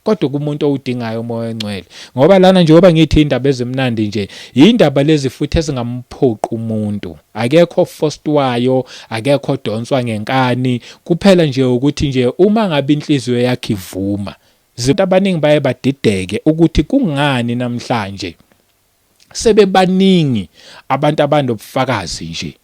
kodwa kumuntu owudingayo umoya ongcwele ngoba lana njengoba ngithi indaba ezimnandi nje indaba lezi futhi ezingamphoqi umuntu akekho fostwayo akekho donswa ngenkani kuphela nje ukuthi nje uma ngabe inhliziyo yakhe ivuma zinto abaningi baye badideke ukuthi kungani namhlanje sebebaningi abantu abanobufakazi nje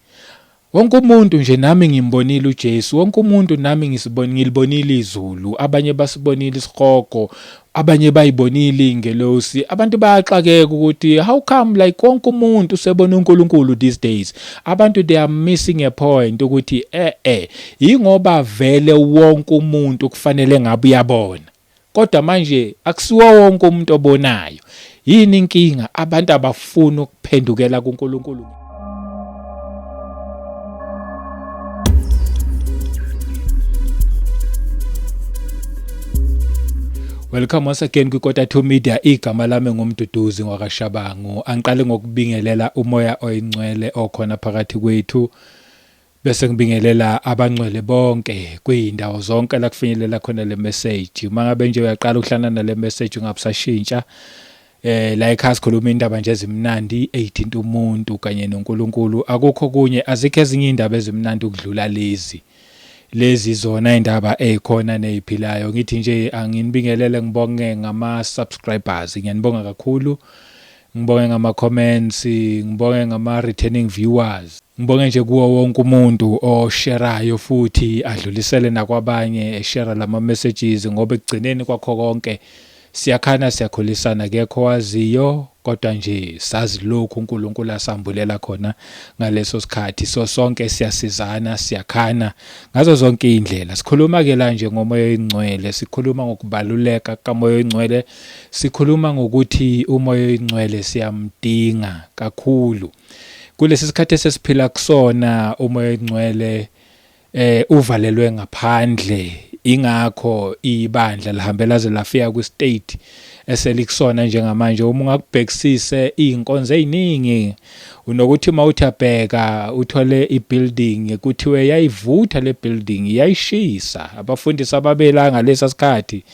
wonke umuntu nje nami ngimbonile uJesu wonke umuntu nami ngisiboni ngilibonile izulu abanye basibonile isihogo abanye bayibonile ingelosi abantu bayaxakeka ukuthi how come like wonke umuntu usebona uNkulunkulu these days abantu they are missing a point ukuthi eh eh ingoba vele wonke umuntu kufanele ngabe uyabona Kodwa manje akusiwo wonke umuntu obonayo. Yini inkinga? Abantu abafuni ukuphendukela kuNkulunkulu. Welcome once again kwiKota 2 Media. Igama lami ngumduduzi ngwakashabangu. Angiqale ngokubingelela umoya oyingcwele okhona phakathi kwethu. Bese ngibingelela abangcwele bonke kuyindawo zonke la kufinyelela khona le message. Uma ngabe nje uyaqala ukuhlana nale message ungabusashintsha. Eh la ekhaya sikhuluma indaba nje ezimnandi ezithinta umuntu kanye noNkulunkulu. Akukho kunye azikho ezinye indaba ezimnandi ukudlula lezi. Lezi zona indaba ezikhona neziphilayo. Ngithi nje anginibingelele ngibonge ngama subscribers. Ngiyanibonga kakhulu. Ngibonge ngama comments, ngibonge ngama returning viewers. Ngibonge nje kuwo wonke umuntu osherayo futhi adlulisele nakwabanye eshera lama messages ngoba ekugcineni kwakho konke siyakhana siyakhulisana kekho waziyo kodwa nje sazi lokhu uNkulunkulu asambulela khona ngaleso sikhathi so sonke siyasizana siyakhana ngazo zonke indlela sikhuluma ke la nje ngomoya oyingcwele sikhuluma ngokubaluleka kamoya oyingcwele Sikhuluma ngokuthi umoya oyingcwele siyamdinga kakhulu. Kulesi sikhathi esesiphila kusona umoya oyingcwele eh uvalelwe ngaphandle ingakho ibandla lihambela ze lafika kwi state eselikusona njengamanje uma ungakubhekisise izinkonzo eziningi unokuthi mawuthi abheka uthole ibuilding kuthiwe yayivutha le building yayishisa abafundisi ababelanga lesa sikhathi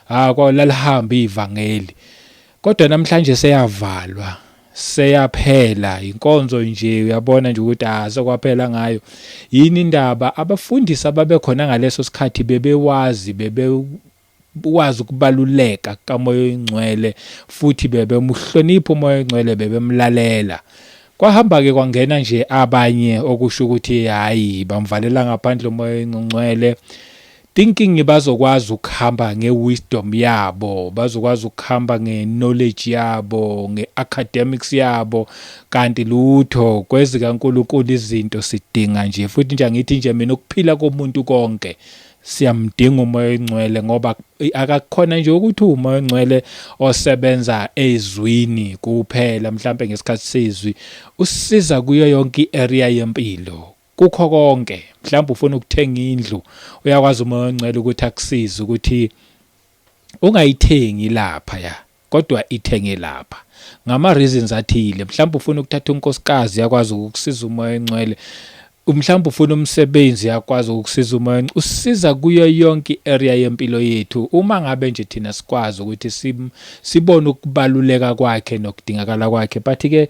Ah kwa lalihamba ivangeli. Kodwa namhlanje seyavalwa. Seyaphela inkonzo nje uyabona nje ukuthi asokwaphela ngayo. Yini indaba abafundisi ababekhona ngaleso sikhathi bebewazi bebe wazi ukubaluleka kamoya oyingcwele futhi bebemuhlonipha umoya oyingcwele bebemlalela kwahamba ke kwangena nje abanye okusho ukuthi hayi bamvalela ngaphandle umoya oyingcwele Thinking bazokwazi ukuhamba nge wisdom yabo, bazokwazi ukuhamba nge knowledge yabo, nge academics yabo, kanti lutho kwezika Nkulunkulu izinto sidinga nje futhi nje angithi nje mina ukuphila komuntu konke siyamdinga umoya oyingcwele ngoba akakhona nje ukuthi umoya oyingcwele osebenza ezwini kuphela mhlambe ngesikhathi sezwi usisiza kuyo yonke iarea yempilo Kukho konke, mhlawumbe ufuna ukuthenga indlu, uyakwazi uMoya oNgcwele ukuthi akusize ukuthi ungayithengi lapha ya kodwa ithenge lapha ngama reasons athile mhlawumbe ufuna ukuthatha unkosikazi yakwazi ukukusiza umoya encwele mhlawumbe ufuna umsebenzi yakwazi ukusiza umoya usiza kuyo yonke area yempilo yethu uma ngabe nje thina sikwazi ukuthi sibone ukubaluleka kwakhe nokudingakala kwakhe but ke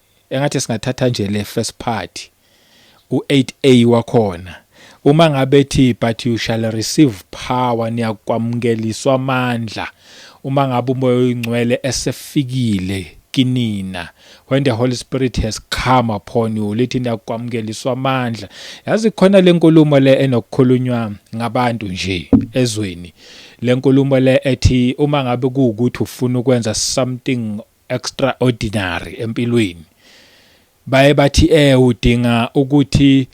engathi singathatha nje le first part u8a wakhona uma ngabe thi but you shall receive power niyakwamukeliswa amandla uma ngabe umoya oyingcwele esefikile kinina when the holy spirit has come upon you lithi niyakwamukeliswa amandla yazi khona lenkulumo le enokukhulunywa ngabantu nje ezweni lenkulumo le ethi uma ngabe kuukuthi ufuna ukwenza something extraordinary empilweni baye bathi eh udinga ukuthi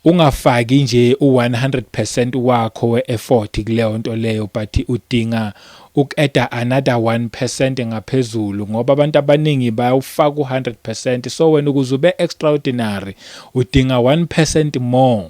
ungafaki nje u100% wakho weeffort kuleyo nto leyo but udinga ukeda another 1% ngaphezulu ngoba abantu abaningi bayawufaka u100% so wena ukuze ube extraordinary udinga 1% more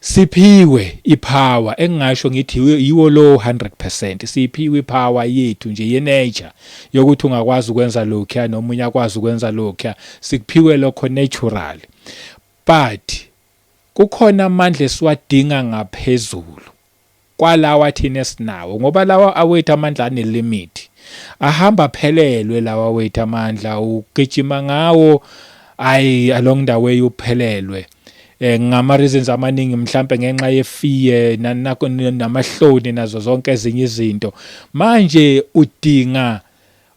Siphiwe ipower engingasho ngithi yiwo lowo 100 percent. Siphiwe ipower yethu nje yenature yokuthi ungakwazi ukwenza lokhuya nomunye akwazi ukwenza lokhuya. Sikuphiwe lokho natural. But kukhona amandla esiwadinga ngaphezulu. kwalawa thina esinawo ngoba lawa awethu amandla ane limit ahamba aphelelwe lawa wethu amandla ugijima ngawo ayi along the way uphelelwe eh ngama reasons amaningi mhlambe ngenxa ye fear nanakho namahloni nazo zonke ezinye izinto manje udinga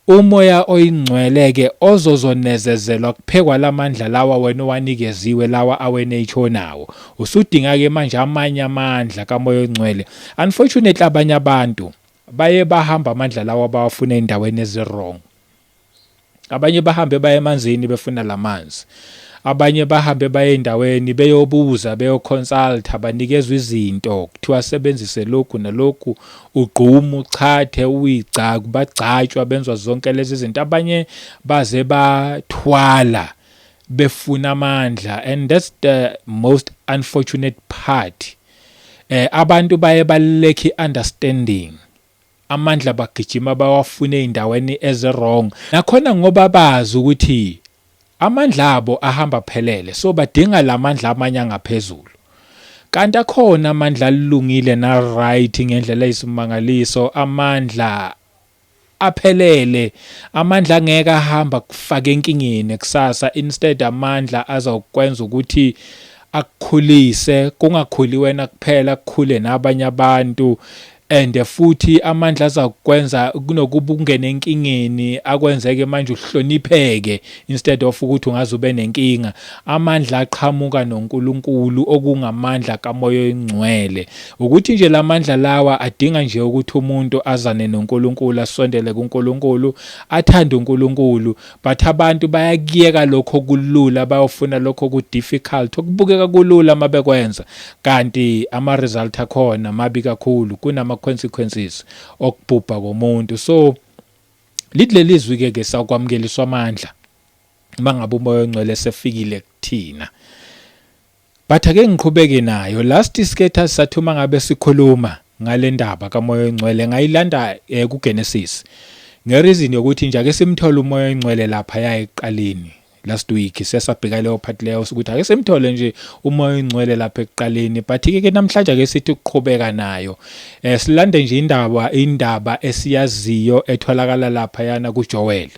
Umoya oyingcwele ke ozozonezezelwa kuphekwa lamandla lawa wena owanikeziwe lawa aweNH onawo. Usudinga ke manje amanye amandla kaMoya oyingcwele. Unfortunately abanye abantu baye bahamba amandla lawa bawafuna endaweni eziwrong. Abanye bahambe baye emanzini befuna lamanzi. Abanye bahambe baye endaweni beyobuza beyoconsulta banikezwa izinto kuthiwa sebenzise lokhu nalokhu ugqumu uchathe uyigcaku bagcatshwa benzwa zonke lezi zinto abanye baze bathwala befuna amandla and that's the most unfortunate part eh abantu baye balekhi understanding amandla bagijima bawafune endaweni eze wrong nakhona ngoba bazi ukuthi Amandla abo ahamba aphelele so badinga lamandla amanye angaphezulu. Kanti akhona amandla alungile na right ngendlela isimangaliso amandla aphelele amandla angeke ahamba kufaka enkingeni kusasa instead amandla azokwenza ukuthi akukhulise kungakhuli wena kuphela kukhule nabanye abantu And futhi amandla azakukwenza kunokuba ungene enkingeni akwenzeke manje uhlonipheke instead of ukuthi ungaze ube nenkinga. Amandla aqhamuka noNkulunkulu okungamandla kaMoya oyingcwele. Ukuthi nje lamandla lawa adinga nje ukuthi umuntu azane noNkulunkulu asondele kuNkulunkulu, athande uNkulunkulu But abantu bayakuyeka lokho kulula bayofuna lokho ku difficult okubukeka kulula mabekwenza kanti ama result akhona mabi kakhulu kunama consequences okubhubha komuntu so lidlelizwi ke ke sawukwamukeliswa amandla mangabe umoya ongcwele sefikile kuthina But ake ngiqhubeke nayo. Last isketha sathi uma ngabe sikhuluma ngalendaba kaMoya oyiNgcwele ngayilanda eh, kuGenesis. Ngereason yokuthi nje ake simthole uMoya oyiNgcwele lapha ya ekuqaleni. Last week sesabheka leyo part leyo ukuthi ake simthole nje uMoya oyiNgcwele lapha ekuqaleni but ke ke namhlanje ake sithi ukuqhubeka nayo. Eh silande nje indaba indaba esiyaziyo etholakala lapha yana kuJoel.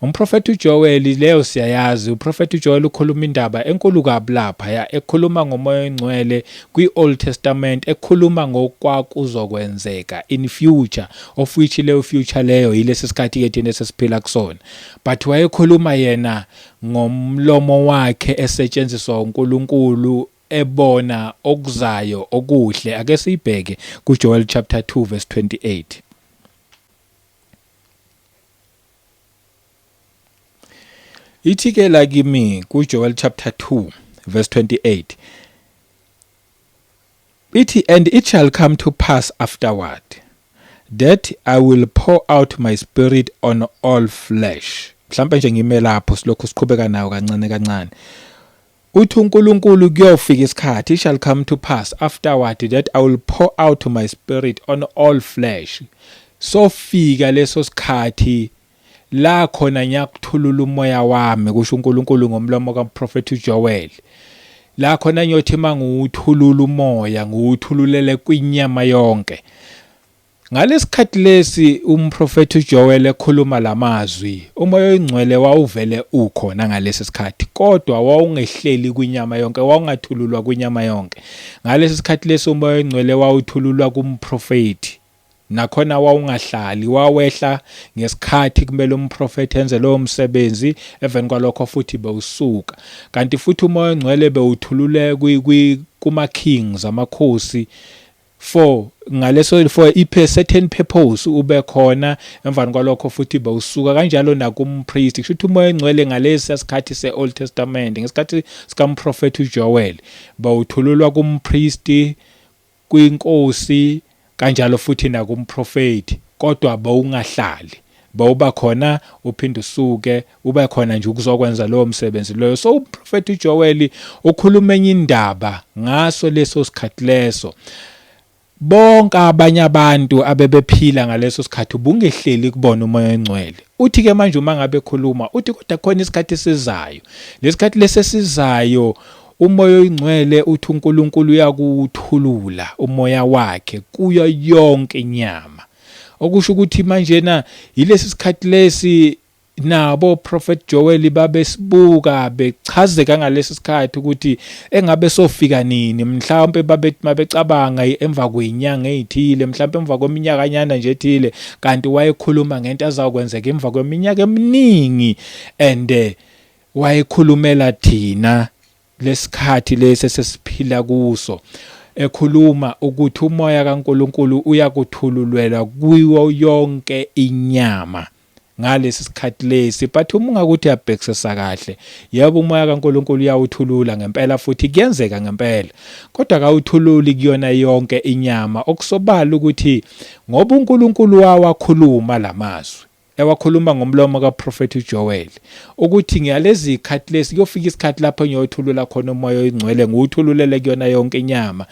Umprofethi uJoweli, leyo siyayazi, uprofethi uJoweli ukhuluma indaba enkulu kabi lapha, ya, ekhuluma ngoMoya oyiNgcwele kwi-Old Testament, ekhuluma ngokwakuzokwenzeka in future, of which leyo future leyo yilesi sikhathi-ke thina esesiphila kusona. But wayekhuluma yena ngomlomo wakhe esetshenziswa uNkulunkulu ebona okuzayo okuhle. Ake siyibheke kuJoel chapter 2 verse 28. Ithi ke la kimi kuJoel chapter 2 verse 28 ithi and it shall come to pass afterward that I will pour out my spirit on all flesh mhlawumbe nje ngime lapho silokhu siqhubeka nayo kancane kancane Uthi uNkulunkulu kuyofika isikhathi, it shall come to pass afterward that I will pour out my spirit on all flesh. Sofika leso sikhathi la khona ngiyakuthulula umoya wami kusho uNkulunkulu ngomlomo kaMprofethi uJoel. La khona ngiyothi mangiwuthulula umoya ngiwuthululele kwinyama yonke. Ngalesikhathi lesi umprofethi uJoel ekhuluma lamazwi, umoya oyingcwele wawuvele ukhona ngalesi sikhathi, kodwa wawungehleli kwinyama yonke, wawungathululwa kwinyama yonke. Ngalesi sikhathi lesi umoya oyingcwele wawuthululwa kumprofethi. Nakhona wawungahlali, wawehla ngesikhathi kumele umprofethi enze lowo msebenzi, eveni kwalokho futhi bewusuka. Kanti futhi umoya oyingcwele bewuthulule kuma-kings, amakhosi, For ngaleso for i certain purpose ube khona emvani kwalokho futhi bewusuka kanjalo nakumpriest kusho ukuthi umoya engcwele ngalesi sikhathi se-old testament ngesikhathi sikamprofethi ujoel bawuthululwa kumpriest kwinkosi kanjalo futhi nakumprofethi kodwa bawungahlali bawuba khona uphinde usuke ube khona nje ukuzokwenza lowo msebenzi loyo so uprofeti uJoeli ukhuluma enye indaba ngaso leso sikhathi leso bonke abanye abantu abebephila ngaleso sikhathi ubungehleli kubona umoya ongcwele uthi ke manje uma ngabe khuluma uthi kodwa khona isikhathi esizayo lesikhathi lesesizayo umoya oyingcwele uthi uNkulunkulu uyakuthulula umoya wakhe kuyo yonke inyama okusho ukuthi manje na yilesi sikhathi lesi nabo Prophet Joel babesibuka bechazeka ngalesi sikhathi ukuthi engabe sofika nini mhlawumbe babethi mabecabanga emva kwenyanga ezithile mhlawumbe emva kweminyaka nyana nje ethile kanti wayekhuluma ngento azakwenzeka emva kweminyaka eminingi and eh, wayekhulumela thina lesikhathi lesi sesiphila kuso ekhuluma ukuthi umoya kaNkuluNkulu uyakuthululwela kuyo yonke inyama ngalesi sikhathi lesi but uma ungakuthi uyabhekisisa kahle yebo umoya kaNkuluNkulu uyawuthulula ngempela futhi kuyenzeka ngempela kodwa kawuthululi kuyona yonke inyama okusobala ukuthi ngoba uNkuluNkulu wawakhuluma lamazwi ewakhuluma ngomlomo kaProphet uJoel ukuthi ngiyalezi ikhathi lesi kuyofika isikhathi lapho ngiyothulula khona umoya oyingcwele ngiwuthululele kuyona yonke inyama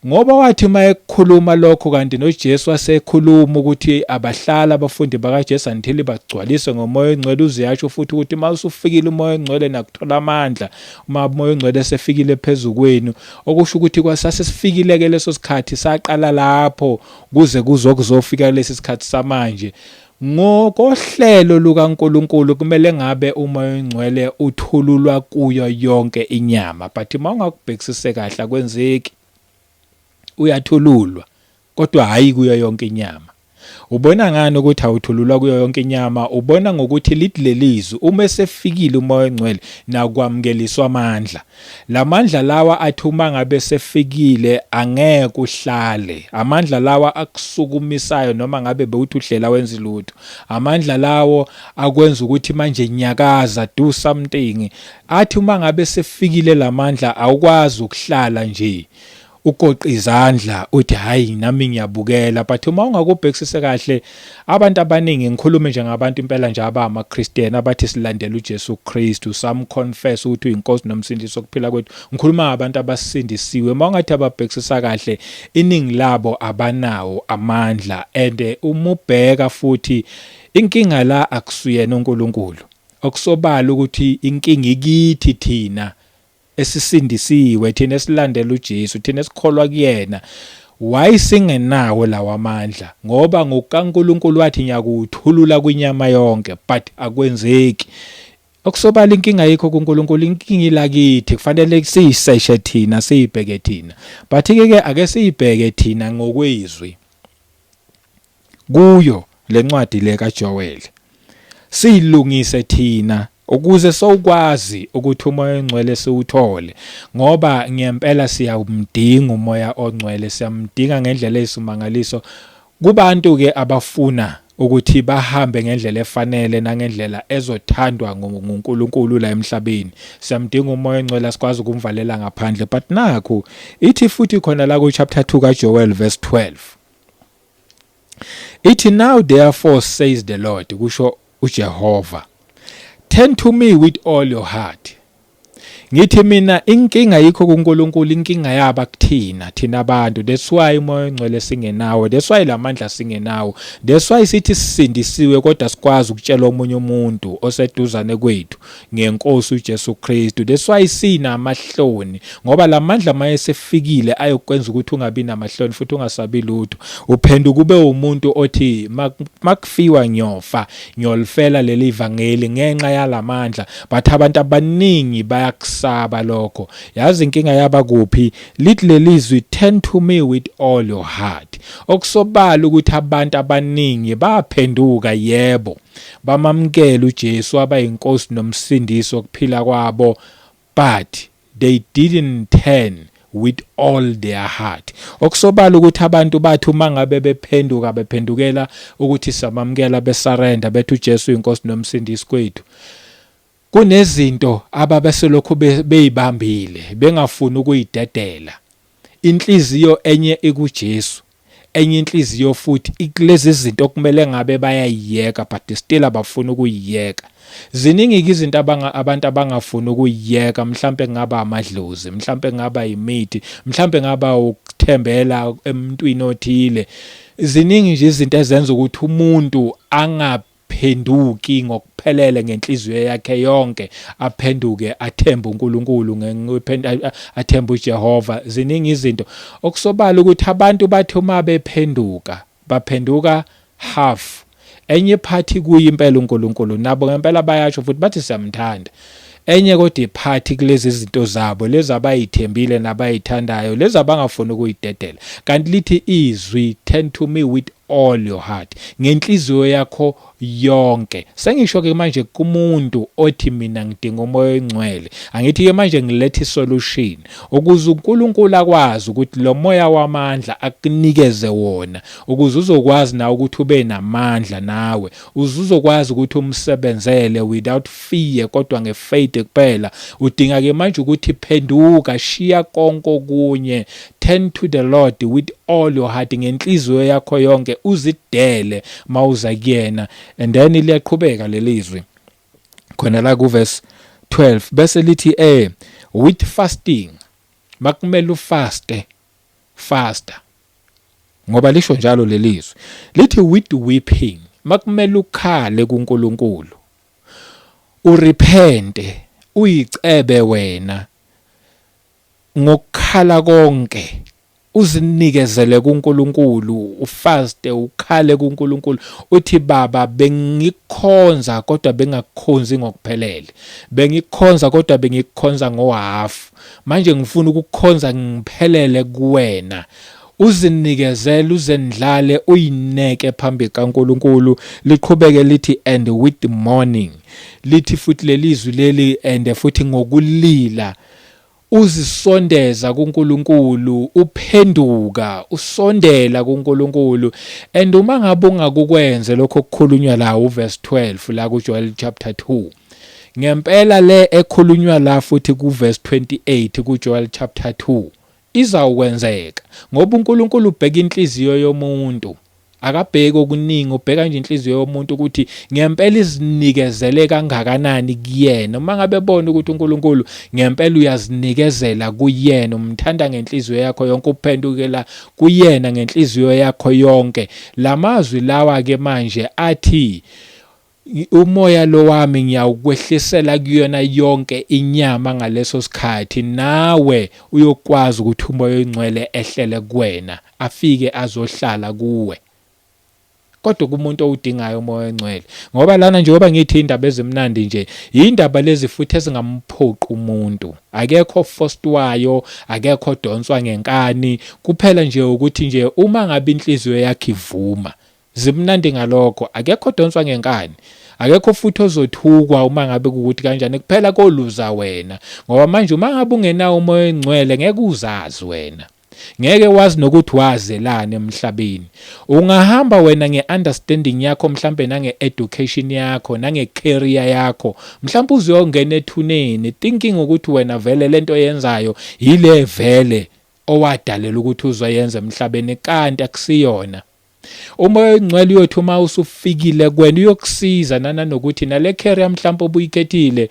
Ngoba wathi uma ekukhuluma lokho kanti noJesu wasekhuluma ukuthi abahlala abafundi bakaJesu until bagcwaliswe ngomoya ongcwele uziyasho futhi ukuthi uma usufikile umoya ongcwele nakuthola amandla uma umoya ongcwele esefikile phezu kwenu okusho ukuthi kwasase sifikile ke leso sikhathi saqala lapho kuze kuzokuzofika lesi sikhathi samanje Ngokohlelo lukaNkulunkulu kumele ngabe uMoya oyiNgcwele uthululwa kuyo yonke inyama but uma ungakubhekisise kahle akwenzeki. Uyathululwa kodwa hhayi kuyo yonke inyama. Ubona ngani ukuthi awuthululwa kuyo yonke inyama? Ubona ngokuthi lithi lelizwi uma esefikile uMoya oyiNgcwele nakwamukeliswa amandla. Lamandla lawa athi uma ngabe sefikile angeke uhlale. Amandla lawa akusukumisayo noma ngabe bewuthi uhlela wenza lutho. Amandla lawo akwenza ukuthi manje nyakaza do something. Athi uma ngabe sefikile lamandla awukwazi ukuhlala nje. ugoqa izandla uthi hayi nami ngiyabukela but uma ungakubhekisise kahle abantu abaningi ngikhulume nje ngabantu impela nje abama Christian abathi silandela uJesu Kristu sam confess ukuthi uyinkosi nomsindisi okuphila kwethu ngikhuluma ngabantu abasindisiwe uma ungathi ababhekisisa kahle iningi labo abanawo amandla and eh, umubheka futhi inkinga la akusuyena uNkulunkulu okusobala ukuthi inkinga ikithi thina esisindisiwe thina esilandela uJesu thina esikholwa kuyena why singenawo lawamandla ngoba ngokukaNkulunkulu wathi ngiyakuthulula kwinyama yonke but akwenzeki okusobala inkinga yikho kuNkulunkulu inkinga ilakithi kufanele siyiseshe thina siyibheke thina but ke ke ake siyibheke thina ngokwezwi kuyo lencwadi le kaJoel. Siyilungise thina ukuze sokwazi ukuthi umoya ongcwele siwuthole ngoba ngempela siyamdinga umoya ongcwele siyamdinga ngendlela eyisimangaliso kubantu ke abafuna ukuthi bahambe ngendlela efanele nangendlela ezothandwa nguNkulunkulu la emhlabeni siyamdinga umoya ongcwele sikwazi ukumvalela ngaphandle but nakho ithi futhi khona la ku chapter 2 ka Joel verse 12 Ithi now therefore says the Lord kusho uJehova turn to me with all your heart Ngithi mina inkinga yikho kuNkulunkulu inkinga yaba kuthina thina abantu that's why umoya ongcwele singenawo that's why lamandla singenawo that's why sithi sisindisiwe kodwa sikwazi ukutshela omunye umuntu oseduzane kwethu ngenkosi uJesu Kristu that's why sinamahloni ngoba lamandla mayesefikile ayokwenza ukuthi ungabi namahloni futhi ungasabi lutho uphenduka ube umuntu othi makufiwa ngiyofa ngiyolifela leli vangeli ngenxa yalamandla but abantu abaningi bayakusaba lokho yazi inkinga yaba kuphi lithi lelizwi turn to me with all your heart okusobala ukuthi abantu abaningi baphenduka yebo bamamkela uJesu waba inkosi nomsindisi wokuphila kwabo but they didn't turn with all their heart okusobala ukuthi abantu bathi uma ngabe bephenduka bephendukela ukuthi samamukela besarenda bethu uJesu inkosi nomsindisi kwethu Kunezinto ababeselokhu beyibambile bengafuni ukuyidedela. Inhliziyo enye ikuJesu, enye inhliziyo futhi ikulezi zinto okumele ngabe bayayiyeka but still abafuni ukuyiyeka. Ziningi-ke izinto abantu abangafuni ukuyiyeka, mhlampe kungaba amadlozi, mhlampe kungaba imithi, mhlampe kungaba ukuthembela emntwini othile. Ziningi nje izinto ezenza ukuthi umuntu angabi phenduki ngokuphelele ngenhliziyo yakhe yonke aphenduke athembe uNkulunkulu athembe uJehova ziningi izinto okusobala ukuthi abantu bathi uma bephenduka baphenduka half enye iphathi kuye impela uNkulunkulu nabo ngempela bayasho futhi bathi siyamthanda Enye kodwa iphathi kulezi zinto zabo lezi abayithembile nabayithandayo lezi abangafuni ukuyidedela kanti lithi izwi turn to me with all your heart ngenhliziyo yakho yonke sengisho ke manje kumuntu othi mina ngidinga umoya oyingcwele angithi ke manje ngilethe isolution ukuze uNkulunkulu akwazi ukuthi lo moya wamandla akunikeze wona ukuze uzokwazi na ukuthi ube namandla nawe Uzuzokwazi ukuthi umsebenzele without fear kodwa nge faith kuphela. Udinga ke manje ukuthi phenduka, shiya konke okunye, turn to the Lord with all your heart ngenhliziyo yakho yonke, uzidele mawuza kuyena. And then liyaqhubeka lelizwi khona la ku verse 12 bese lithi eh with fasting makumele ufaste faster ngoba lisho njalo lelizwi lithi with weeping makumele ukhale kuNkulunkulu urepente uyicebe wena ngokukhala konke uzinikezele kuNkulunkulu ufaste ukhale kuNkulunkulu uthi baba bengikhonza kodwa bengakukhonzi ngokuphelele bengikhonza kodwa bengikhonza ngohafu Manje ngifuna ukukukhonza ngiphelele kuwena. Uzinikezele uzendlale uyineke phambi kaNkuluNkulu liqhubeke lithi and with the morning lithi futhi lelizwi leli and futhi ngokulila uzisondeza kuNkuluNkulu uphenduka usondela kuNkuluNkulu and uma ngabe ungakukwenze lokho kukhulunywa la uverse 12 la kuJoel chapter 2 Ngempela le ekhulunywa la futhi kuverse 28 kuJoel chapter 2 izawukwenzeka ngoba uNkulunkulu ubheka inhliziyo yomuntu. Akabheki okuningi, ubheka nje inhliziyo yomuntu ukuthi ngempela izinikezele kangakanani kuyena. Uma ngabe ebona ukuthi uNkulunkulu ngempela uyazinikezela kuyena, umthanda ngenhliziyo yakho yonke, uphendukela kuyena ngenhliziyo yakho yonke. Lamazwi lawa ke manje athi Umoya lo wami ngiyawukwehlisela kuyona yonke inyama ngaleso sikhathi, nawe uyokwazi ukuthi umoya oyingcwele ehlele kuwena, afike azohlala kuwe. Kodwa kumuntu owudingayo umoya oyingcwele. Ngoba lana njengoba ngithi indaba ezimnandi nje, yindaba lezi futhi ezingamphoqi umuntu. Akekho ofostwayo, akekho odonswa ngenkani, kuphela nje ukuthi nje uma ngabe inhliziyo yakhe ivuma, Zimnandi ngalokho. Akekho odonswa ngenkani. Akekho futhi ozothukwa uma ngabe kukuthi kanjani. Kuphela koluza wena. Ngoba manje uma ngabe ungenawo umoya oyingcwele ngeke uzazi wena. Ngeke wazi nokuthi wazelani emhlabeni. Ungahamba wena nge-understanding yakho mhlampe nange-education yakho, nange-career yakho. Mhlampe uzuyongena ethuneni thinking ukuthi wena vele lento oyenzayo yile vele owadalela ukuthi uzoyenza emhlabeni kanti akusiyona. Umoya oyingcwele uyothi uma usufikile kwena uyokusiza nananokuthi nale career mhlawumbe obuyikhethile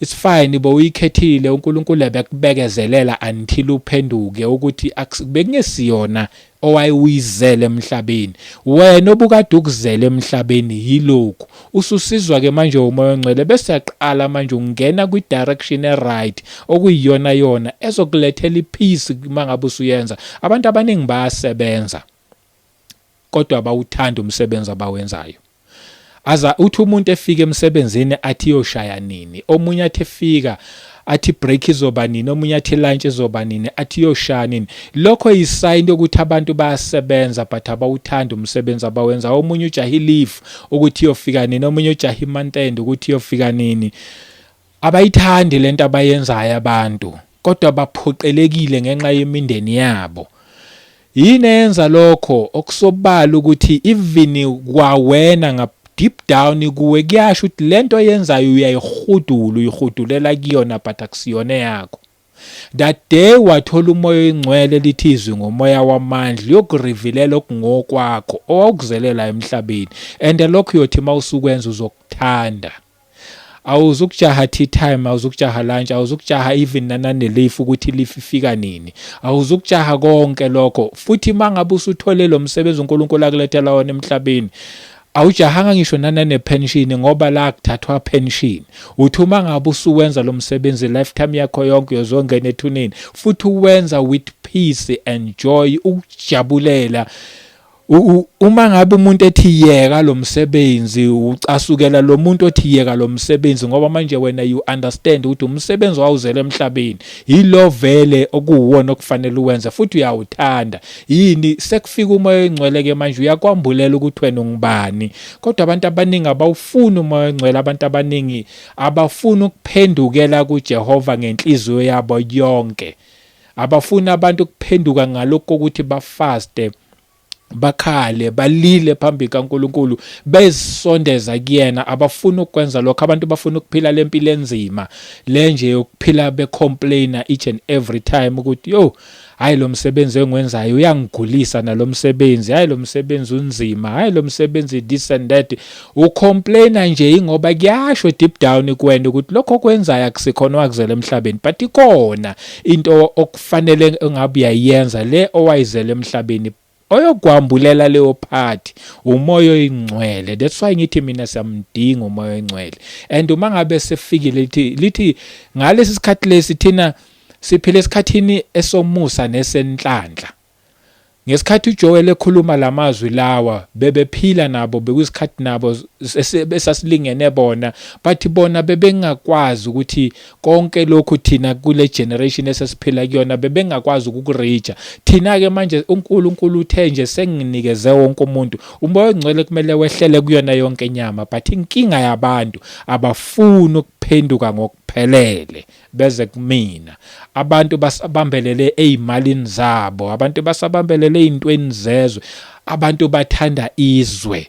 it's fine bo uyikhethile uNkulunkulu ebekubekezelela until uphenduke ukuthi bekungesiyona owayewuyizele emhlabeni wena obukade ukuzele emhlabeni yilokhu ususizwa ke manje umoya ongcwele bese yaqala manje ungena kwi direction e right okuyiyona yona ezokulethela ipeace mangabe usuyenza abantu abaningi bayasebenza kodwa abawuthandi umsebenzi abawenzayo aza uthi umuntu efika emsebenzini athi yoshaya nini omunye athi efika athi break izoba nini omunye athi lunch izoba nini athi yoshaya nini lokho yisayini yokuthi abantu bayasebenza but abawuthanda umsebenzi abawenza omunye ujahi leave ukuthi yofika nini omunye ujahi month end ukuthi yofika nini Abayithandi le nto abayenzayo abantu kodwa baphoqelekile ngenxa yemindeni yabo. Yini eyenza lokho? Okusobala ukuthi even kwawena ngap deep down kuwe kuyasho ukuthi lento oyenzayo uyayihudula uyihudulela kuyona but akusiyona yakho That day wathola umoya oyingcwele lithi izwi ngomoya wamandla uyokurivilela okungokwakho owawukuzelela emhlabeni and lokho uyothi mawusukwenza uzokuthanda awuzukujaha tea time awuzukujaha lunch awuzukujaha even nanane leaf ukuthi leaf ifika nini awuzukujaha konke lokho futhi mangabe usuthole lo msebenzi uNkulunkulu akulethela wona emhlabeni Awujahanga ngisho nanane pension ngoba la kuthathwa pension. Uthi uma ngabe usuwenza lo msebenzi lifetime yakho yonke uyozongena ethuneni futhi uwenza with peace and joy ukujabulela uma ngabe umuntu ethi yeka lo msebenzi ucasukela lo muntu othi yeka lo msebenzi ngoba manje wena you understand ukuthi umsebenzi wawuzela emhlabeni yilo vele okuwuwona okufanele uwenze futhi uyawuthanda yini sekufika umoya oyingcwele ke manje uyakwambulela ukuthi wena ungubani kodwa abantu abaningi abawufuni umoya oyingcwele abantu abaningi abafuni ukuphendukela kuJehova ngenhliziyo yabo yonke abafuni abantu ukuphenduka ngalokho ukuthi bafaste bakhale balile phambi kaNkuluNkulu bezisondeza kuyena abafuni ukwenza lokho abantu bafuna ukuphila lempilo enzima lenje yokuphila becomplaina each and every time ukuthi yo Hayi lo msebenzi engiwenzayo uyangigulisa nalo msebenzi. Hayi lo msebenzi unzima. Hayi lo msebenzi this and that. Ucomplaina nje ingoba kuyasho deep down kuwena ukuthi lokho okwenzayo akusikhona wakuzela emhlabeni but ikona into okufanele engabe uyayenza le owayizela emhlabeni oyogwambulela leyo party umoya oyingcwele that's why ngithi mina siyamdinga umoya oyingcwele and uma ngabe sefikile lithi lithi ngalesi sikhathi lesi thina siphile esikhathini esomusa nesenhlanhla ngesikhathi uJoel ekhuluma lamazwi lawa bebephila nabo bekuyisikhathi nabo esasilingene bona bathi bona bebengakwazi ukuthi konke lokhu thina kule generation esesiphila kuyona bebengakwazi ukukurija thina ke manje uNkulunkulu uthe nje senginikeze wonke umuntu umoya ongcwele kumele wehlele kuyona yonke inyama but inkinga yabantu abafuni ukuphenduka ngokuphelele beze kumina abantu basabambelele ezimalini zabo abantu basabambelele ezintweni zezwe abantu bathanda izwe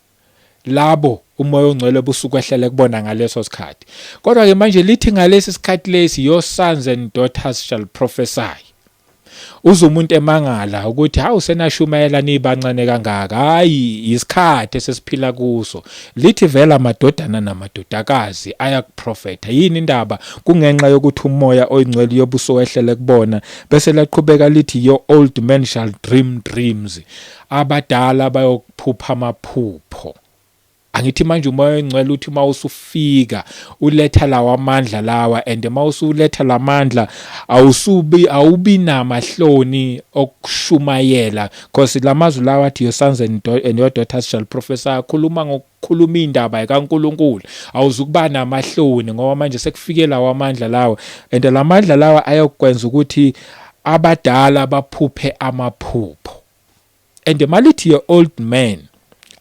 labo umoya ongcwele busukwehlele kubona ngaleso sikhathi kodwa ke manje lithi ngalesi sikhathi lesi your sons and daughters shall prophesy uze umuntu emangala ukuthi hawu senashumayela nibancane kangaka hayi yisikhathi esesiphila kuso lithi vela amadodana namadodakazi ayakuprofetha yini indaba kungenxa yokuthi umoya oyingcwele yobuso wehlele kubona bese laqhubeka lithi your old man shall dream dreams abadala bayokuphupha amaphupho angithi manje umoya ongcwele uthi uma usufika uletha lawa amandla lawa and uma usuletha lamandla awusubi awubi namahloni okushumayela because lamazwi lawa athi your sons and, and your daughters shall prophesy akhuluma Khuluma indaba yikaNkulunkulu awuzukuba namahloni ngoba manje sekufike lawo amandla lawo and lamandla lawa ayokwenza ukuthi abadala baphuphe amaphupho and malithi ye old man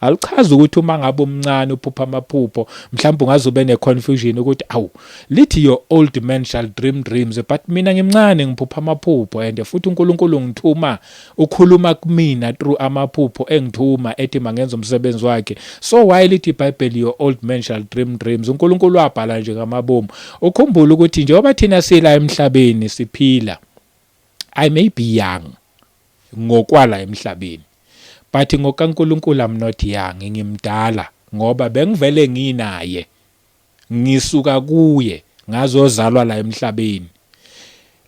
alichazi ukuthi uma ngabe umncane uphupha amaphupho mhlawumbe ungaze ube ne-confusion ukuthi awu lithi your old man shall dream dreams but mina ngimncane ngiphupha amaphupho and futhi unkulunkulu ngithuma Ukhuluma kmina through amaphupho engithuma ethi mangenza umsebenzi wakhe. So why lithi iBhayibheli your old man shall dream dreams. UNkulunkulu wabhala nje ngamabomu. Ukhumbule ukuthi njengoba thina sila emhlabeni siphila I may be young ngokwala emhlabeni but ngokaNkulunkulu I'm not young ngimdala ngoba bengivele nginaye. ngisuka kuye ngazozalwa la emhlabeni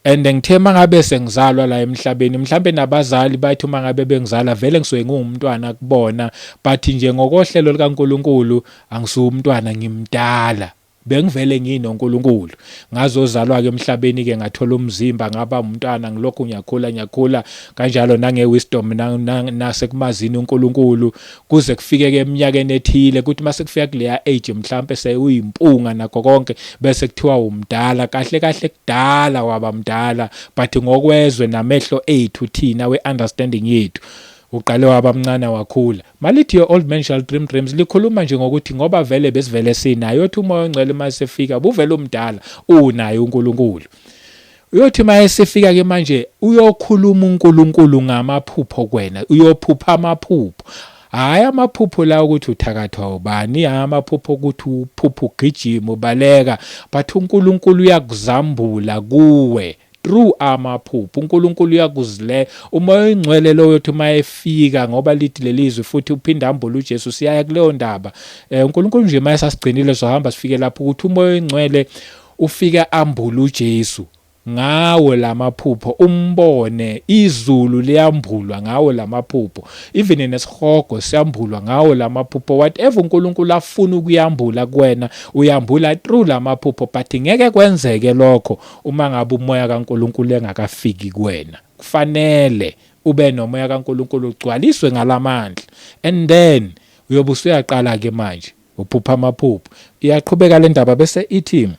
and ngithe mangabe sengizalwa la emhlabeni mhlambe nabazali bathi uma ngabe bengizala vele ngisuke ngumntwana kubona but nje ngokohlelo likaNkuluNkulu angisuwumntwana ngimdala bengivele ngino uNkulunkulu ngazozalwa ke emhlabeni ke ngathola umzimba ngaba umntwana ngilokhu ngiyakhula ngiyakhula kanjalo nange wisdom nasekumazini uNkulunkulu kuze kufike-ke eminyakeni ethile kuthi uma sekufika kuleya age mhlampe sewuyimpunga nakho konke bese kuthiwa umdala kahle kahle kudala waba mdala but ngokwezwe namehlo ethu thina we-understanding yethu uqale waba mncane wakhula malithi your old man shall dream dreams likhuluma nje ngokuthi ngoba vele besivele sinayo yothi umoya ongcwele uma sefika buvele umdala unaye uNkulunkulu Uyothi uma esefika ke manje uyokhuluma uNkulunkulu ngamaphupho kwena, uyophupha amaphupho. Hhayi amaphupho la ukuthi uthakathwa ubani, hhayi amaphupho ukuthi uphupha ugijima ubaleka, but uNkulunkulu uyakuzambula kuwe through amaphupho uNkulunkulu uyakuzile umoya oyingcwele lowo yothi uma efika ngoba lithi lelizwe futhi uphinde ambule uJesu siyaya kuleyo ndaba eh, uNkulunkulu nje uma esasigcinile sohamba sifike lapho ukuthi umoya oyingcwele Ufike ambule uJesu ngawo lamaphupho umbone izulu liyambulwa ngawo lamaphupho even nesihogo siyambulwa ngawo lamaphupho whatever uNkulunkulu afuna ukuyambula kuwena uyambula through lamaphupho but ngeke kwenzeke lokho uma ngabe umoya kaNkulunkulu engakafiki kuwena kufanele ube nomoya kaNkulunkulu ugcwaliswe ngalamandla and then uyobe usuyaqala ke manje Uphupha amaphupho. Iyaqhubeka le ndaba bese ithi,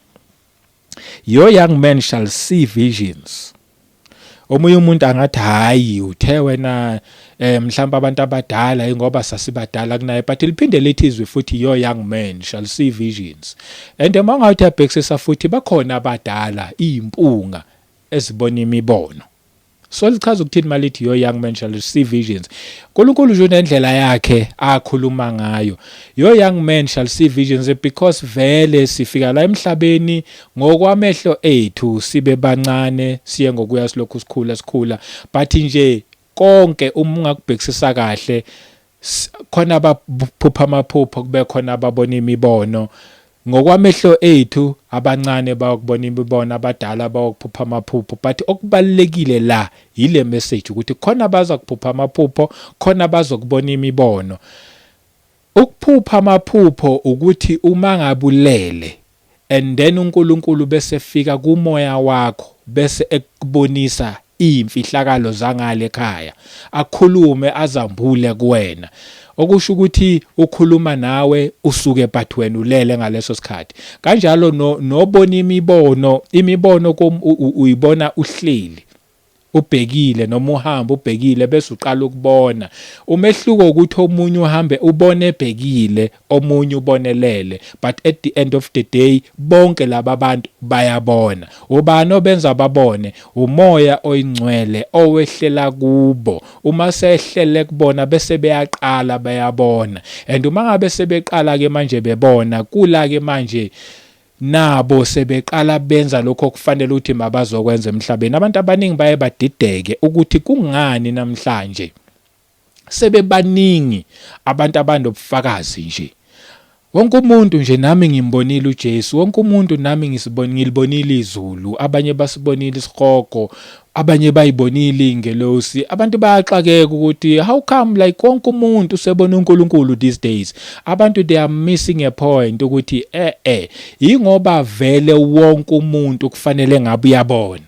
Your young man shall see visions. Omunye umuntu angathi hayi uthe wena eh mhlawumbe abantu abadala ingoba sasibadala kunaye but liphinde lithi izwi futhi your young man shall see visions and uma ungathi abhekisisa futhi bakhona abadala impunga ezibona imibono So lichaza ukuthini malithi your young man shall see visions. Nkulunkulu nje unendlela yakhe akhuluma ngayo. Your young man shall see visions because vele sifika la emhlabeni ngokwamehlo ethu sibe bancane siye ngokuya silokhu sikhula sikhula but nje konke uma ungakubhekisisa kahle Khona abaphupha amaphupho kube khona ababona imibono. Ngokwamehlo ethu abancane bayokubona imibono, abadala bayokuphupha amaphupho. But okubalulekile la yile message ukuthi khona abaza kuphupha amaphupho, khona bazokubona imibono. Ukuphupha amaphupho ukuthi uma ngabulele and then uNkulunkulu bese efika kumoya wakho bese ekubonisa iyimfihlakalo zangale ekhaya akhulume azambule kuwena okusho ukuthi ukhuluma nawe usuke but wena ulele ngaleso sikhathi kanjalo nobona imibono imibono uyibona uhleli ubhekile noma uhamba ubhekile bese uqala ukubona umehluko ukuthi omunye uhambe ubone ebhekile omunye ubonelele but at the end of the day bonke laba bantu bayabona ubani obenza babone umoya oyingcwele owehlela kubo uma sehlele kubona bese beyaqala bayabona and uma ngabe sebeqala ke manje bebona kula ke manje Nabo sebeqala benza lokho okufanele ukuthi mabazokwenza emhlabeni. Abantu abaningi baye badideke ukuthi kungani namhlanje sebebaningi abantu abanobufakazi nje. Wonke umuntu nje nami ngimbonile uJesu, wonke umuntu nami ngisiboni ngilibonile izulu, abanye basibonile isihogo, Abanye bayibonile ingelosi. Abantu bayaxakeka ukuthi how come like konke umuntu usebona uNkulunkulu these days. Abantu they are missing a point ukuthi eh eh ingoba vele wonke umuntu kufanele ngabe uyabona.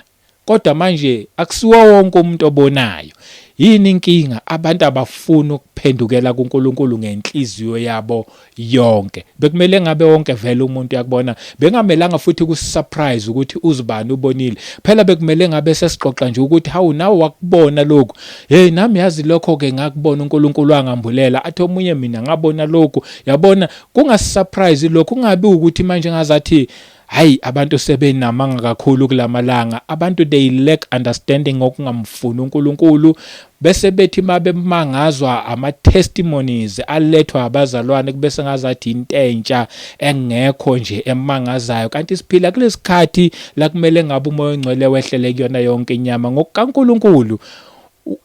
Kodwa manje akusiwo wonke umuntu obonayo. Yini inkinga? Abantu abafuni ukuphendukela kuNkulunkulu ngenhliziyo yabo yonke bekumele ngabe wonke vele umuntu yakubona bengamelanga futhi kusurprise ukuthi uzibani ubonile phela bekumele ngabe sesixoxa nje ukuthi hawu nawe wakubona lokhu hey nami yazi lokho ke ngakubona uNkulunkulu angambulela athi omunye mina ngabona lokhu yabona kungasurprise lokhu kungabi ukuthi manje ngazathi Hayi abantu sebenamanga kakhulu kulamalanga. Abantu they lack understanding ngokungamfuni uNkulunkulu bese bethi mabemangazwa ama testimonies alethwa abazalwane kube sengazathi intentsha engekho nje emangazayo kanti siphila kulesikhathi la kumele ngabe umoya ongcwele wehlele kuyona yonke inyama ngokukaNkulunkulu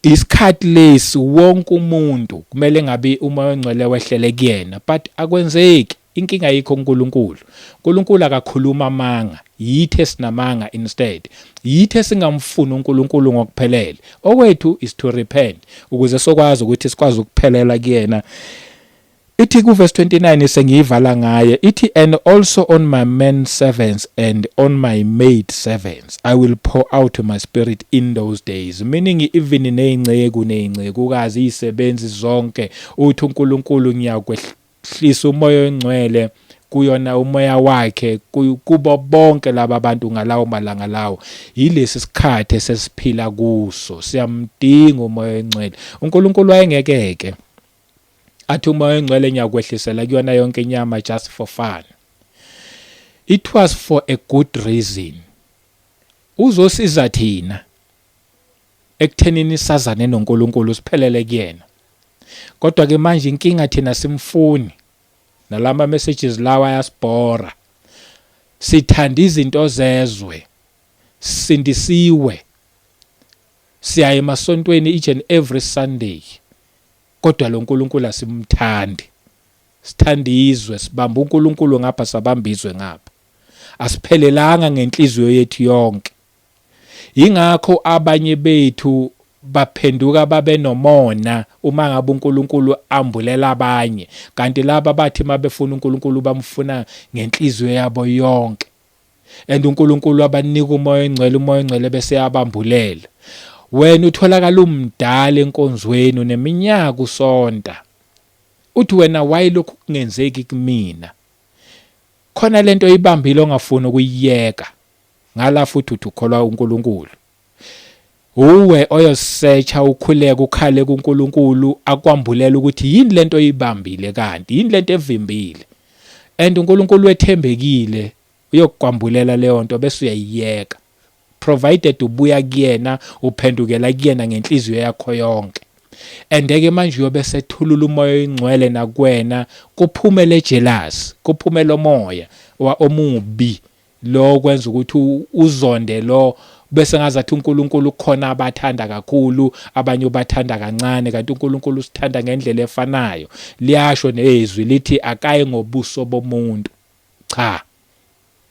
isikhathi lesi wonke umuntu kumele ngabe umoya ongcwele wehlele kuyena but akwenzeki Inkinga ayikho kuNkulunkulu. UNkulunkulu akakhulumi amanga. Yithi esinamanga instead. Yithi esingamfuni uNkulunkulu ngokuphelele. Okwethu is to repent ukuze sokwazi ukuthi sikwazi ukuphelela kuyena. Ithi ku verse 29 sengiyivala ngaye ithi and also on my man servants and on my maid servants I will pour out my spirit in those days meaning even nezinceku nezincekukazi izisebenzi zonke uthi uNkulunkulu ngiyakwehla Hlisa uMoya oyiNgcwele kuyona umoya wakhe kubo bonke laba bantu ngalawo malanga lawo yilesi sikhathi esesiphila kuso siyamdinga umoya oyingcwele uNkulunkulu wayengekeke athi umoya oyingcwele ngiyakwehlisela kuyona yonke inyama just for fun it was for a good reason uzosiza thina Ekuthenini sazane noNkulunkulu siphelele kuyena. Kodwa ke manje inkinga thina simfuni. Nalama messages lawa ayasibhora. Sithanda izinto zezwe. Sindisiwe. Siyaye emasontweni each and every Sunday. Kodwa lo Nkulunkulu asimthandi. Sithanda izwe, sibamba uNkulunkulu ngapha sabamba izwe ngapha. Asiphelelanga ngenhliziyo yethu yonke. Yingakho abanye bethu baphenduka babe nomona uma ngabe uNkulunkulu ambulela abanye, kanti laba bathi uma befuna uNkulunkulu bamfuna ngenhliziyo yabo yonke. And uNkulunkulu wabanika umoya oyingcwele, umoya oyingcwele bese eyabambulela. Wena utholakala umdala enkonzweni, uneminyaka usonta. Uthi wena why lokhu kungenzeki kumina? Khona lento oyibambile ongafuni ukuyiyeka. Ngala futhi uthi ukholwa uNkulunkulu. Uwe oyosetsha ukhuleke ukhale kuNkulunkulu akwambulela ukuthi yini lento oyibambile kanti yini lento evimbile. And uNkulunkulu wethembekile uyokukwambulela leyo nto bese uyayiyeka. Provided ubuya kuyena uphendukela kuyena ngenhliziyo yakho yonke. Endeke manje uyobe sethulula umoya oyingcwele nakwena kuphumele jealous, kuphumele omoya omubi Lo kwenza ukuthi uzonde lo kube sengazathi uNkulunkulu kukhona abathanda kakhulu abanye ubathanda kancane kanti uNkulunkulu usithanda ngendlela efanayo. Liyasho nezwi lithi akayi ngobuso bomuntu. Cha.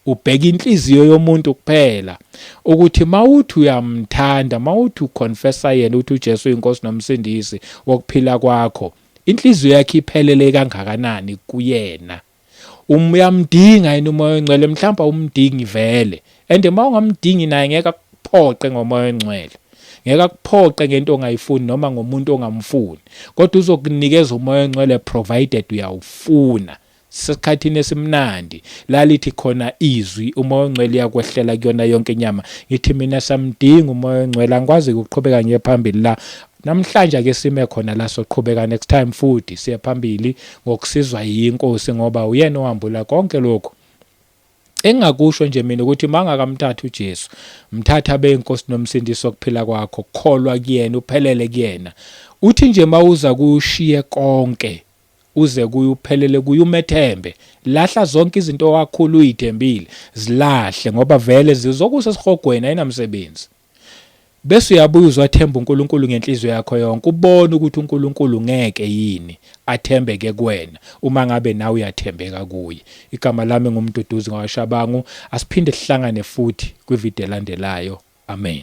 Ubheka inhliziyo yomuntu kuphela ukuthi mawuthi uyamthanda mawuthi uconfessa yena ukuthi uJesu uyinkosi nomsindisi wokuphila kwakho inhliziyo yakhe iphelele kangakanani kuyena. Um, uyamdinga yini umoya ongcwele mhlawumbe awumdingi vele and uma ungamdingi naye ngeke akuphoqe ngomoya ongcwele ngeke akuphoqe ngento ongayifuni noma ngomuntu ongamfuni kodwa uzokunikeza umoya ongcwele provided uyawufuna sisekhathini esimnandi lalithi khona izwi umoya ongcwele uyakwehlela kuyona yonke inyama ngithi mina samdinga umoya ongcwele angikwazi ukuqhubeka ngiye phambili la Namhlanje ake sime khona la soqhubeka next time futhi siye phambili ngokusizwa yinkosi ngoba uyena ohambula konke lokhu Engakusho nje mina ukuthi mangakamthatha uJesu, mthatha abe inkosi nomsindisi wokuphila kwakho, kholwa kuyena, uphelele kuyena. Uthi nje mawuza kushiye konke, uze kuye uphelele kuye umethembe. Lahla zonke izinto wakhulu uyithembile, zilahle ngoba vele zizokusa esihogweni ayinamsebenzi. Bese uyabuye uzothemba uNkulunkulu ngenhliziyo yakho yonke, ubone ukuthi uNkulunkulu ngeke yini athembeke kuwena uma ngabe nawe uyathembeka kuye. Igama lami nguMduduzi ngawashabangu. Asiphinde sihlangane futhi kwivideo elandelayo. Amen.